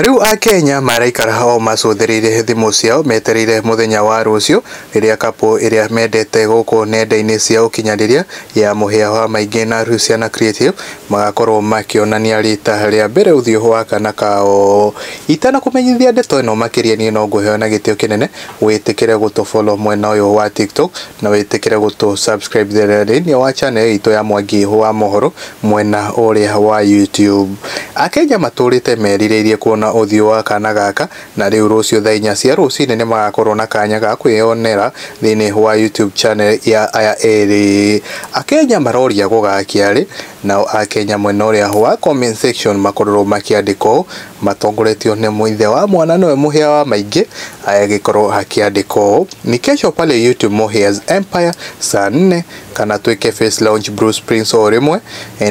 Rĩu Akenya maraikara o macũthĩrĩire thimũ ciao metereire mũthenya wa rũciũ rĩrĩa kapo ĩrĩa mendete gũkũ nenda-inĩ cia ũkinyanĩria ya mũhĩa wa maingĩ na Luciana Creative magakorwo makĩonania rita rĩa mbere ũthiũ wa kana kao. Itanakũmenyithia ndeto ĩno makĩria niĩ no ngũheyo na gĩtĩo kĩnene wĩtĩkĩre gũtũ follow mwena ũyũ wa TikTok. na wĩtĩkĩre gũtũ subscribe thĩinĩ wa channel itũ ya Mwangi wa Mohoro mwena ũrĩa wa YouTube. Akenya matũrĩte merirĩirie kuona ũthiũ wa kana gaka na rĩu rũciũ thaa inya cia rũcinĩ nĩ magakorwo na kanya ga kwĩyonera thĩinĩ wa YouTube channel ya aya erĩ. Akenya maroria gũgakia rĩ, nao Akenya mwena ũrĩa wa comment section makorwo makĩandĩka ũũ matongoretio nĩ Ithe wa mwana nĩwe mũhĩa wa maingĩ agĩkorwo hakĩandĩkwo ũũ, Ni kesho pale YouTube Muhĩa's Empire saa nne kana twĩke face launch Bruce Prince o rĩmwe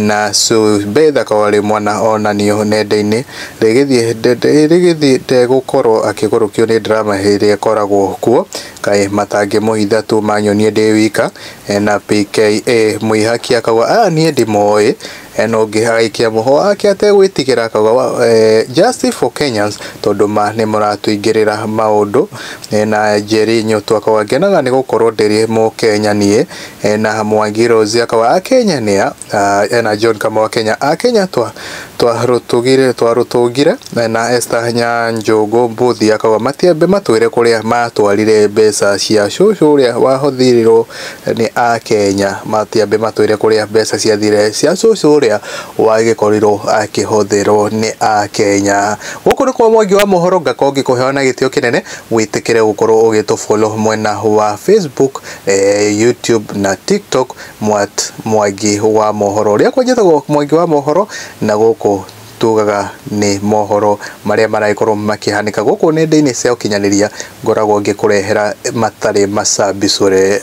na Sube Thaka wa Rĩmwa na onanio nenda-inĩ rĩgĩthiĩ rĩgĩthiĩ ndegũkorwo akĩgũrũkio nĩ drama ĩrĩa ĩkoragwo kuo kaĩ matangĩmũhitha tu manyonie ndĩ wika na PKA Mũihaki akauga aya niĩ ndimoĩ Eh, no ngĩhagaikia moho wake ategwĩtigĩra akauga eh, justice for Kenyans tondũ ma nĩ mũratũingĩrĩra maũndũ eh, na Njeri Nyũtũ akauga ngenaga nĩ gũkorwo ndĩrĩ Mũkenya niĩ na Mwangi Rose akauga Akenya nĩ a ah, na John Kamau Akenya Akenya twa twarũtũgire twarũtũngire na Esther Nyanjũngũ Mbuthi akauga matiambe matwĩre kũrĩa matwarire mbeca cia cũcũ ũrĩa wahothirirwo nĩ Akenya matiambe matwĩre kũrĩa mbeca ciathire cia cũcũ ũrĩa wagĩkorirwo akĩhũthĩrwo nĩ Akenya. Gũkũ nĩkuo Mwangi wa Mohoro ngakorwo ngĩkũhewa na gĩtĩo kĩnene, wĩtĩkĩre gũkorwo ũgĩtũ follow mwena wa Facebook, YouTube na TikTok, Mwangi wa Mohoro. Rĩakwa njĩtagwo Mwangi wa Mohoro na gũkũ tugaga nĩ mohoro marĩa maragĩkorwo makĩhanĩka gũkũ nenda-inĩ cia ũkinyanĩria ngoragwo ngĩkũrehera matarĩ macabicũre.